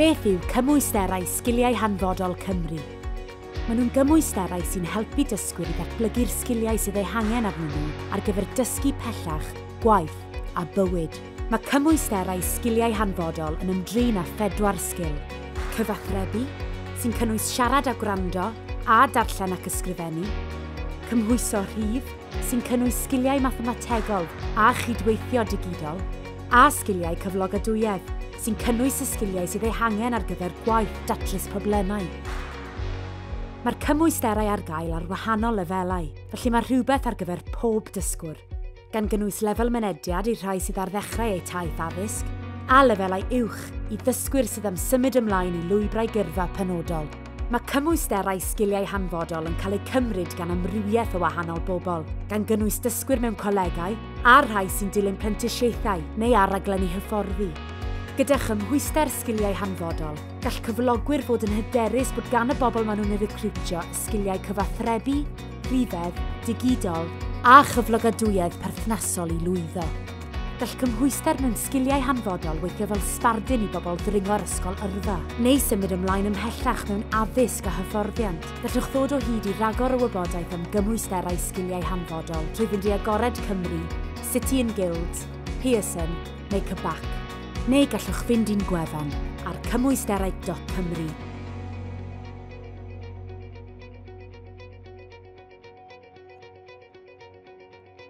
Beth yw Cymwysterau Sgiliau Hanfodol Cymru? Maen nhw'n gymwysterau sy'n helpu dysgwyr i ddatblygu'r sgiliau sydd eu hangen arnyn nhw ar gyfer dysgu pellach, gwaith a bywyd. Mae Cymwysterau Sgiliau Hanfodol yn ymdrin â phedwar sgil, cyfathrebu, sy'n cynnwys siarad a gwrando, a darllen ac ysgrifennu, cymhwyso rhif, sy'n cynnwys sgiliau mathemategol a chydweithio digidol, a sgiliau cyflogadwyedd, sy'n cynnwys y sgiliau sydd eu hangen ar gyfer gwaith datrys problemau. Mae'r cymwysterau ar gael ar wahanol lefelau, felly mae rhywbeth ar gyfer pob dysgwr, gan gynnwys lefel mynediad i'r rhai sydd ar ddechrau eu taith addysg, a lefelau uwch i ddysgwyr sydd am symud ymlaen i lwybrau gyrfa penodol. Mae cymwysterau sgiliau hanfodol yn cael eu cymryd gan amrywiaeth o wahanol bobl, gan gynnwys dysgwyr mewn colegau a'r rhai sy'n dilyn prentisiaethau neu ar raglenni hyfforddi. Gyda chymhwyster sgiliau hanfodol, gall cyflogwyr fod yn hyderus bod gan y bobl maen nhw'n eu recriwtio y sgiliau cyfathrebu, rhifedd, digidol, a chyflogadwyedd perthnasol i lwyddo. Gall cymhwyster mewn sgiliau hanfodol weithio fel sbardun i bobl ddringo ar ysgol yrfa, neu symud ymlaen ymhellach mewn addysg a hyfforddiant. Gallwch ddod o hyd i ragor o wybodaeth am gymwysterau sgiliau hanfodol trwy fynd i Agored Cymru, City and Guilds, Pearson neu CBAC. Neu gallwch fynd i'n gwefan ar cymwysterau dot cymru.